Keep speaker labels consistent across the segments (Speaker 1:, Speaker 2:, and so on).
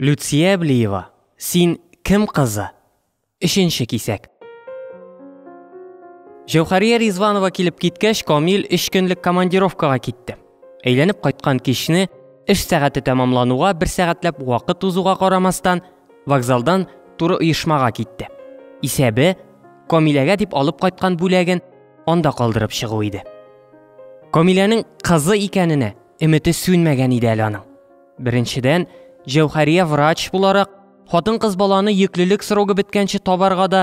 Speaker 1: Люция Блиева, Син кем кызы? Өченче кисәк. Җәүхәрия Ризванова килеп киткәч, Камил өч көнлек командировкага китте. Әйләнеп кайткан кичне эш сәгате тәмамлануга бер сәгатьләп вакыт узуга карамастан, вокзалдан туры оешмага китте. Исәбе Камиләгә дип алып кайткан бүләген анда калдырып чыгу иде. Камиләнең кызы икәненә өмете сүнмәгән иде әле аның. Беренчедән, Җәүхәрия врач буларак, хатын-кыз баланы йөклелек срогы беткәнче табарга да,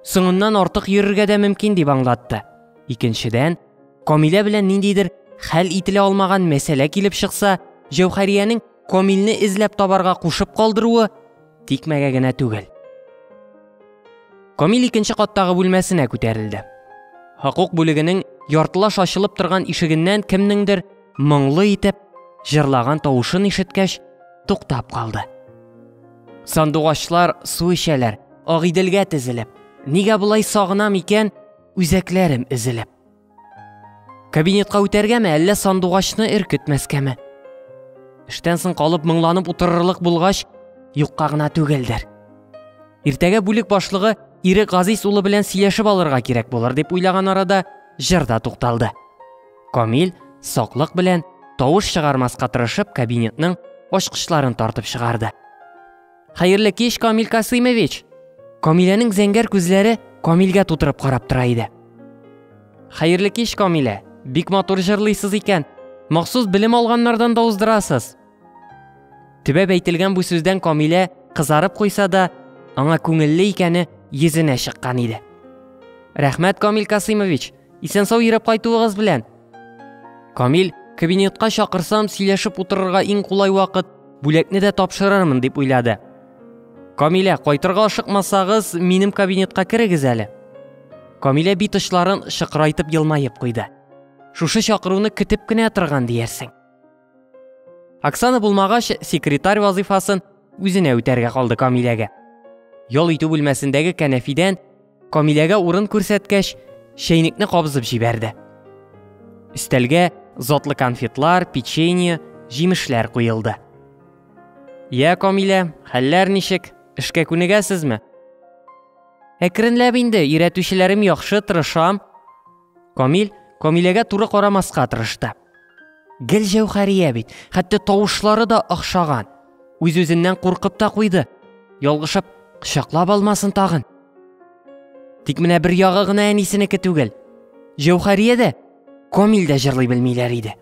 Speaker 1: соңыннан артык йөрергә дә мөмкин дип аңлатты. Икенчедән, Камилә белән ниндидер хәл ителә алмаган мәсьәлә килеп чыкса, Җәүхәриянең Камилне эзләп табарга кушып калдыруы тикмәгә генә түгел. Камил икенче каттагы бүлмәсенә күтәрелде. Хокук бүлегенең яртылаш ачылып торган ишегеннән кемнеңдер моңлы итеп җырлаган тавышын ишеткәч, туктап калды. Сандугачлар су эчәләр, Агыйделгә тезелеп. Нигә болай сагынам икән, үзәкләрем эзелеп. Кабинетка үтәргәме, әллә сандугачны эркетмәскәме? Эштән соң калып моңланып утырырлык булгач, юкка гына түгелдер. Иртәгә бүлек башлыгы Ирек Газиз улы белән сөйләшеп алырга кирәк булыр дип уйлаган арада җыр да тукталды. Камил, саклык белән, тавыш чыгармаска тырышып, кабинетның ачкычларын тартып чыгарды. Хәерле кич, Камил Касыймович! Камиләнең зәңгәр күзләре Камилгә тутырып карап тора иде. Хәерле кич, Камилә! Бик матур җырлыйсыз икән. Махсус белем алганнардан да уздырасыз. Төбәп әйтелгән бу сүздән Камилә кызарып куйса да, аңа күңелле икәне йөзенә чыккан иде. Рәхмәт, Камил Касыймович! Исән-сау йөрәп кайтуыгыз белән. Камил, кабинетка чакырсам, сөйләшеп утырырга иң кулай вакыт, бүләкне дә тапшырырмын дип уйлады. Камилә, кайтырга ашыкмасагыз, минем кабинетка керегез әле. Камилә бит очларын шыкырайтып елмаеп куйды. Шушы чакыруны көтеп кенә торган диярсең. Оксана булмагач, секретарь вазыйфасын үзенә үтәргә калды Камиләгә. Ял итү бүлмәсендәге кәнәфидән Камиләгә урын күрсәткәч, чәйнекне кабызып җибәрде. Өстәлгә затлы конфетлар, печенье, җимешләр куелды. Я, Камилә, хәлләр ничек? Эшкә күнегәсезме? Әкренләп инде, өйрәтүчеләрем яхшы, тырышам. Камил Камиләгә туры карамаска тырышты. Гел Җәүхәрия бит, хәтта тавышлары да охшаган. Үз-үзеннән куркып та куйды. Ялгышып, кочаклап алмасын тагын. Тик менә бер ягы гына әнисенеке түгел. Җәүхәрия дә, Камил дә җырлый белмиләр иде.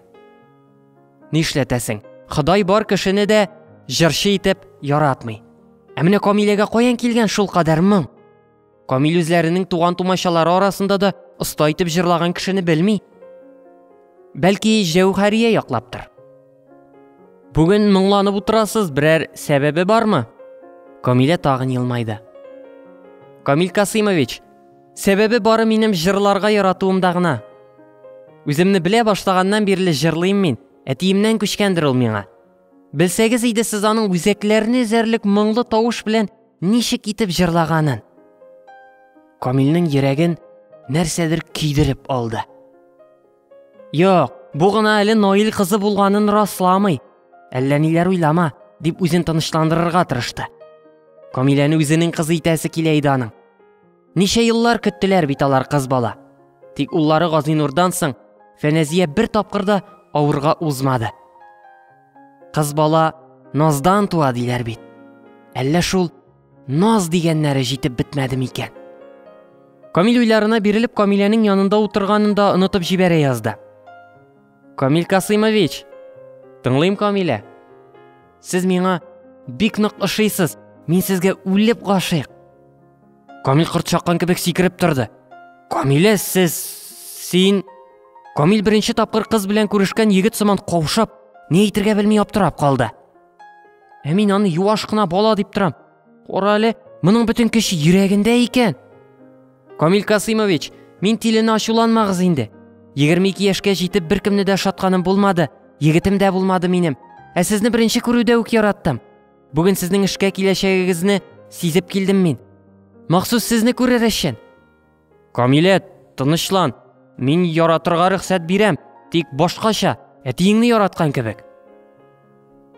Speaker 1: Нишләтәсең? Ходай бар кешене дә җырчы итеп яратмый. Ә менә Камиләгә каян килгән шул кадәр моң? Камил үзләренең туган-тумачалары арасында да оста итеп җырлаган кешене белми. Бәлки, Җәүһәрия яклаптыр. Бүген моңланып утырасыз, берәр сәбәбе бармы? Камилә тагын елмайды. Камил Касыймович, сәбәбе бары минем җырларга яратуымда гына. Үземне белә башлаганнан бирле җырлыйм мин, әтиемнән күчкәндер ул миңа. Белсәгез иде сез аның үзәкләрне эзәрлек моңлы тавыш белән ничек итеп җырлаганын. Камилнең йөрәген нәрсәдер көйдереп алды. Юк, бу гына әле Наил кызы булганын расламый. Әллә ниләр уйлама, дип үзен тынычландырырга тырышты. Камиләне үзенең кызы итәсе килә иде аның. Ничә еллар көттеләр бит алар кыз бала. Тик уллары Газинурдан соң Фәнәзия бер тапкыр да авырга узмады. Кыз бала наздан туа диләр бит. Әллә шул наз дигәннәре җитеп бетмәде микән? Камил уйларына бирелеп Камиләнең янында утырганын да онытып җибәрә язды. Камиль Касыймович! Тыңлыйм, Камилә. Сез миңа бик нык ошыйсыз. Мин сезгә үлеп гашыйк. Камиль кырт чаккан кебек сикереп торды. Камилә, сез син Камиль беренче тапкыр кыз белән күрешкән егет сыман каушап, ни әйтергә белми аптырап калды. Ә мин аны юаш кына бала дип торам. Кара әле, моның бөтен көче йөрәгендә икән. Камил Касыймович, мин тиленә ачуланмагыз инде. 22 яшькә җитеп беркемне дә шатканым булмады, егетем дә булмады минем. Ә сезне беренче күрүдә үк яраттым. Бүген сезнең эшкә киләчәгегезне сизеп килдем мин. Махсус сезне күрер өчен. Камилә, тынычлан. Мин яратырга рөхсәт бирәм, тик башкача, әтиеңне яраткан кебек.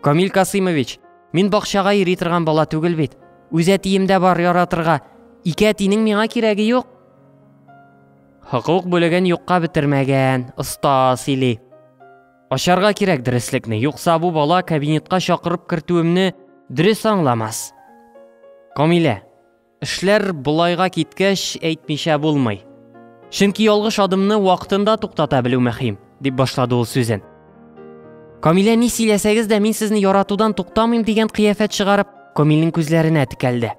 Speaker 1: Камил Касыймович, мин бакчага йөри торган бала түгел бит. Үз әтием дә бар яратырга. Ике әтинең миңа кирәге юк. Хокук бүлеген юкка бетермәгән, оста сөйли. Ачарга кирәк дөреслекне, юкса бу бала кабинетка чакырып кертүемне дөрес аңламас. Камилә, Эшләр болайга киткәч, әйтмичә булмый. Чөнки ялгыш адымны вакытында туктата белү мөһим, дип башлады ул сүзен. Камилә ни сөйләсәгез дә мин сезне яратудан туктамыйм дигән кыяфәт чыгарып, Камилнең күзләренә текәлде.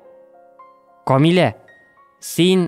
Speaker 1: Камилә, син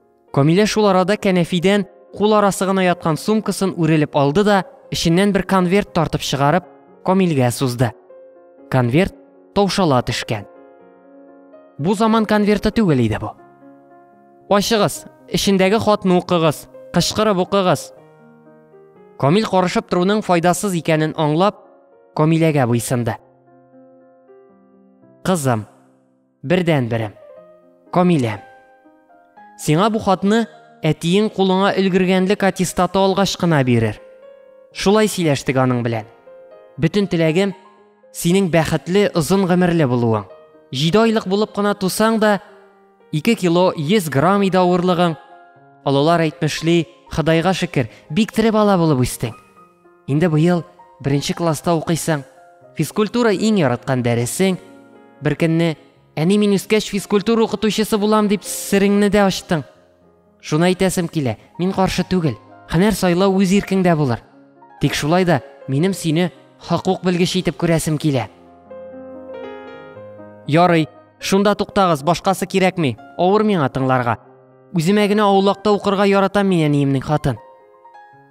Speaker 1: Камилә шул арада кәнәфидән кул арасы гына яткан сумкасын үрелеп алды да, эченнән бер конверт тартып чыгарып, Камилгә сузды. Конверт таушала төшкән. Бу заман конверты түгел иде бу. Ачыгыз, эчендәге хатны укыгыз, кычкырып укыгыз. Камил карышып торуның файдасыз икәнен аңлап, Камиләгә буйсынды. Кызым, Бердән берем. Камилә. Сиңа бу хатны әтиең кулыңа өлгергәнлек аттестаты алгач кына бирер. Шулай сөйләштек аның белән. Бөтен теләгем синең бәхетле, озын гомерле булуың. Җиде айлык булып кына тусаң да, 2 кило 100 грамм иде авырлыгың. Олылар әйтмешли, Ходайга шөкер, бик тере бала булып үстең. Инде быел беренче класста укыйсың. Физкультура иң яраткан дәресең. Беркөнне, әни мин үскәч физкультура укытучысы булам дип сереңне дә ачтың. Шуны әйтәсем килә, мин каршы түгел. Һөнәр сайлау үз иркеңдә булыр. Тик шулай да минем сине хокук белгече итеп күрәсем килә. Ярый, шунда туктагыз, башкасы кирәкми. Авыр миңа тыңларга. Үземә генә аулакта укырга яратам мин әниемнең хатын.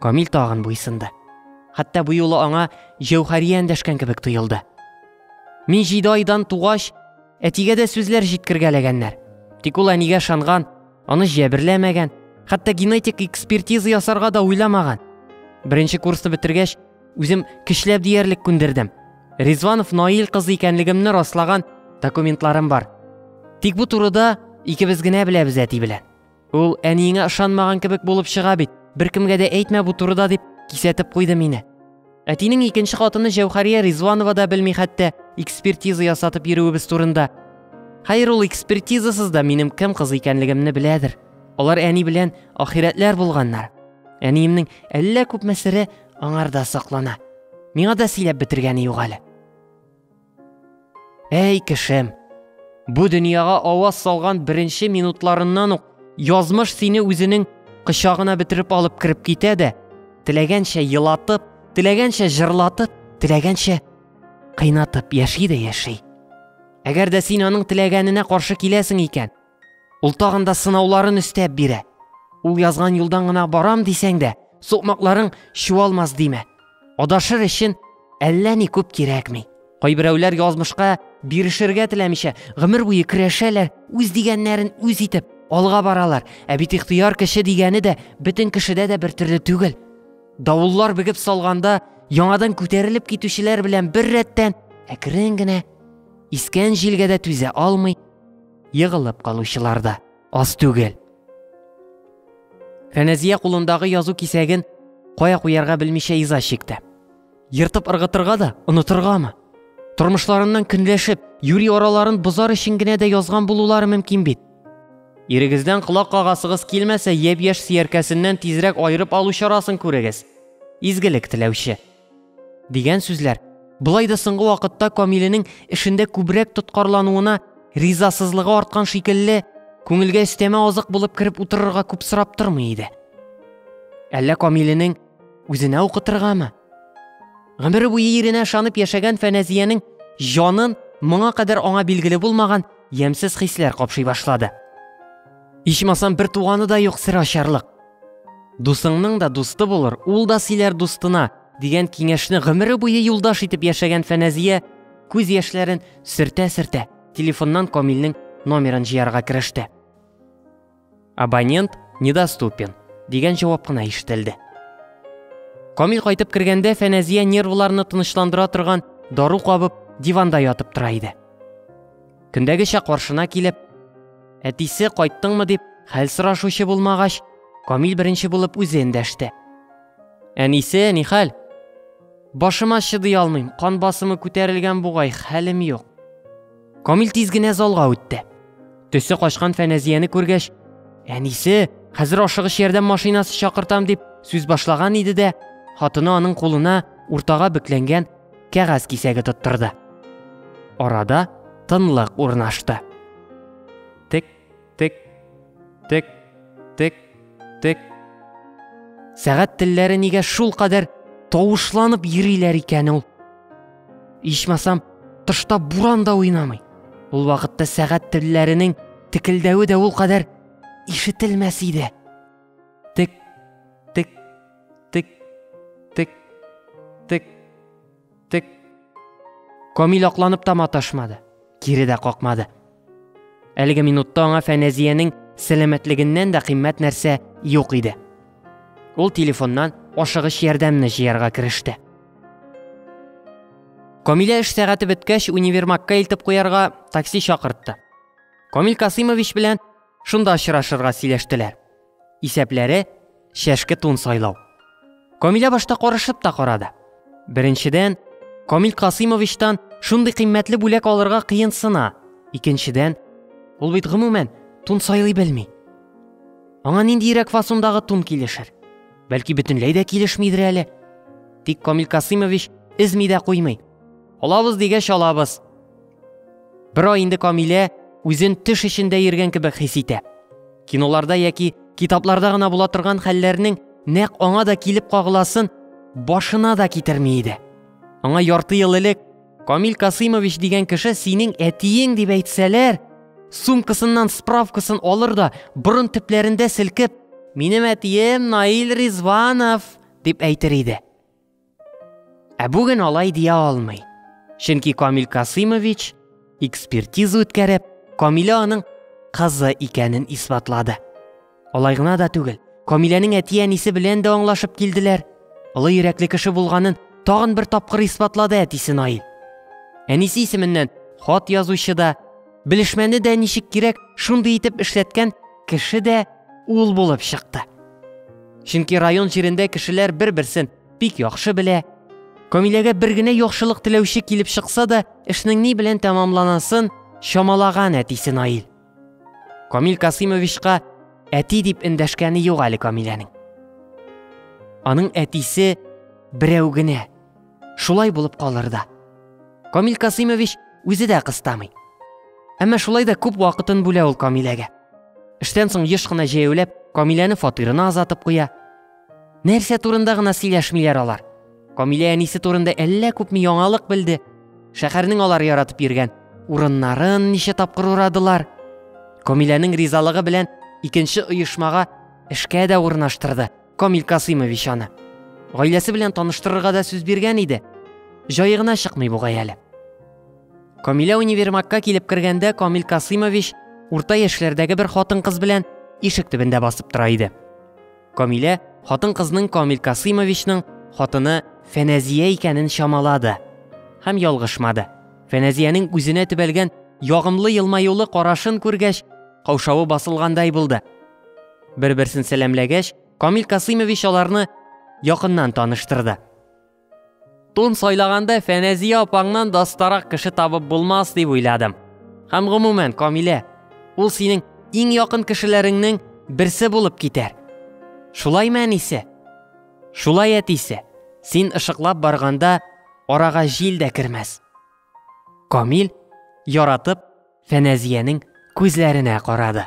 Speaker 1: Камил тагын буйсынды. Хәтта бу юлы аңа Җәүхәрия эндәшкән кебек тоелды. Мин җиде айдан тугач, әтигә дә сүзләр җиткергәләгәннәр. Тик ул әнигә шанган, аны җәберләмәгән, хәтта генетик экспертиза ясарга да уйламаган. Беренче курсны бетергәч, Үзем көчләп диярлек күндердем. Ризванов Наил кызы икәнлегемне раслаган документларым бар. Тик бу турыда икебез генә беләбез әти белән. Ул әниеңә ышанмаган кебек булып чыга бит. Беркемгә дә әйтмә бу турыда дип кисәтеп куйды мине. Әтинең икенче хатыны Җәүхәрия Ризванова да белми хәтта экспертиза ясатып йөрүебез турында. Хәер ул экспертизасыз да минем кем кыз икәнлегемне беләдер. Алар әни белән ахирәтләр булганнар. Әниемнең әллә күпме сире Аңарда соклана. Миңа да сөйләп бетергәне юк әле. Әй, кешем, бу дөньяга аваз салган беренче минутларыннан ук язмыш сине үзенең кочагына бетереп алып кереп китә дә, теләгәнчә елатып, теләгәнчә җырлатып, теләгәнчә кыйнатып яши дә яши. Әгәр дә син аның теләгәненә каршы киләсең икән, Ул тагын да сынауларын өстәп бирә. Ул язган юлдан гына барам дисәң дә, сукмакларың чуалмас димә. Адашыр өчен әллә ни күп кирәкми. Кайберәүләр язмышка бирешергә теләмичә, гомер буе көрәшәләр, үз дигәннәрен үз итеп, алга баралар. Ә бит ихтыяр кеше дигәне дә бөтен кешедә дә бер төрле түгел. Давыллар бегеп салганда, яңадан күтәрелеп китүчеләр белән бер рәттән әкрен генә искән җилгә дә түзә алмый, Егылып калучылар да аз түгел. Фәнәзия кулындагы язу кисәген кая куярга белмичә иза чикте. Ертып ыргытырга да, онытыргамы? Тормышларыннан көнләшеп, юри араларын бозар өчен генә дә язган булулары мөмкин бит. Ирегездән колак кагасыгыз килмәсә, япь-яшь сөяркәсеннән тизрәк аерып алу чарасын күрегез. Изгелек теләүче. Дигән сүзләр. Болай да соңгы вакытта Камиленең эшендә күбрәк тоткарлануына ризасызлыгы арткан шикелле, күңелгә өстәмә азык булып кереп утырырга күп сорап тормый иде. Әллә Камиленең үзенә укытыргамы? Гомере буе иренә ышанып яшәгән Фәнәзиянең җанын моңа кадәр аңа билгеле булмаган ямьсез хисләр капшый башлады. Ичмасам бер туганы да юк сер ачарлык. Дусыңның да дусты булыр, ул да сөйләр дустына, дигән киңәшне гомере буе юлдаш итеп яшәгән Фәнәзия күз яшьләрен сөртә-сөртә телефоннан Камилнең номерын җыярга кереште. Абонент недоступен дигән җавап кына ишетелде. Камил кайтып кергәндә Фәнәзия нервларны тынычландыра торган дару кабып диванда ятып тора иде. Көндәгечә каршына килеп, әтисе кайттыңмы дип хәл сорашучы булмагач, Камил беренче булып үзе эндәште. Әнисе, ни хәл? Башыма чыдый алмыйм, кан басымы күтәрелгән бугай, хәлем юк. Камил тиз генә залга үтте. Төсе качкан Фәнәзияне күргәч, әнисе, хәзер ашыгыч ярдәм машинасы чакыртам дип сүз башлаган иде дә, хатыны аның кулына уртага бөкләнгән кәгазь кисәге тоттырды. Арада тынлык урнашты. Тик, тик, тик, тик, тик. Сәгать телләре нигә шул кадәр тавышланып йөриләр икән ул? Ичмасам, тышта буран да уйнамый. Ул вакытта сәгать телләренең текелдәве дә ул кадәр ишетелмәс иде. Тик, тик, тик, тик. Камил акланып та маташмады, кире дә какмады. Әлеге минутта аңа Фәнәзиянең сәламәтлегеннән дә кыйммәт нәрсә юк иде. Ул телефоннан ашыгыч ярдәмне җыярга кереште. Камилә эш сәгате беткәч универмагка илтеп куярга такси чакыртты. Камил Касыймович белән шунда очрашырга сөйләштеләр. Исәпләре, чәшке тун сайлау. Камилә башта карышып та карады. Беренчедән, Камил Касыймовичтан шундый кыйммәтле бүләк алырга кыенсына. Икенчедән, ул бит гомумән тун сайлый белми. Аңа ниндиерәк фасондагы тун килешер? Бәлки бөтенләй дә килешмидер әле. Тик Камил Касыймович эзми дә куймый. Алабыз дигәч алабыз. Бер ай инде Камилә үзен теш эчендә йөргән кебек хис итә. Киноларда яки китапларда гына була торган хәлләрнең нәкъ аңа да килеп кагыласын башына да китерми иде. Аңа ярты ел элек Камил Касыймович дигән кеше синең әтиең дип әйтсәләр, сумкасыннан справкасын алыр да борын төпләрендә селкеп, минем әтием Наил Ризванов дип әйтер иде. Ә бүген алай дия алмый. Чөнки Камил Касыймович экспертиза үткәреп, Камилә аның кызы икәнен исбатлады. Алай гына да түгел, Камиләнең әти-әнисе белән дә аңлашып килделәр. Олы йөрәкле кеше булганын тагын бер тапкыр исбатлады әтисе Наил. Әнисе исеменнән хат язучы да, белешмәне дә ничек кирәк, шундый итеп эшләткән Кеше дә ул булып чыкты. Чөнки район җирендә кешеләр бер-берсен бик яхшы белә. Камиләгә бер генә яхшылык теләүче килеп чыкса да, эшнең ни белән тәмамланасын чамалаган әтисе Наил. Камил Касыймовичка әти дип эндәшкәне юк әле Камиләнең. Аның әтисе берәү генә. шулай булып калыр да. Камил Касыймович үзе дә кыстамый. Әмма шулай да күп вакытын бүлә ул Камиләгә. Эштән соң еш кына җәяүләп, Камиләне фатирына азатып куя. Нәрсә турында гына сөйләшмиләр алар. Камилә әнисе турында әллә күпме яңалык белде. Шәһәрнең алар яратып йөргән урыннарын ничә тапкыр урадылар. Камиләнең ризалыгы белән икенче оешмага эшкә дә урнаштырды. Камил Касыймович аны гаиләсе белән таныштырырга да сүз биргән иде. Җае гына чыкмый бугай әле. Камилә универмагка килеп кергәндә Камил Касыймович урта яшьләрдәге бер хатын-кыз белән ишек төбендә басып тора иде. Камилә хатын-кызның Камил Касыймовичның хатыны Фәнәзия икәнен чамалады һәм ялгышмады. Фәнәзиянең үзенә төбәлгән ягымлы елмаюлы карашын күргәч, каушавы басылгандай булды. Бер-берсен сәламләгәч, Камил Касыймович аларны якыннан таныштырды. Тун сайлаганда Фәнәзия апаңнан дастарак кеше табып булмас дип уйладым. Һәм гомумән, Камилә, ул синең иң якын кешеләреңнең берсе булып китәр. Шулай мәнисе? Шулай әтисе. Син ышыклап барганда арага җил дә кермәс. Камил, яратып, Фәнәзиянең күзләренә карады.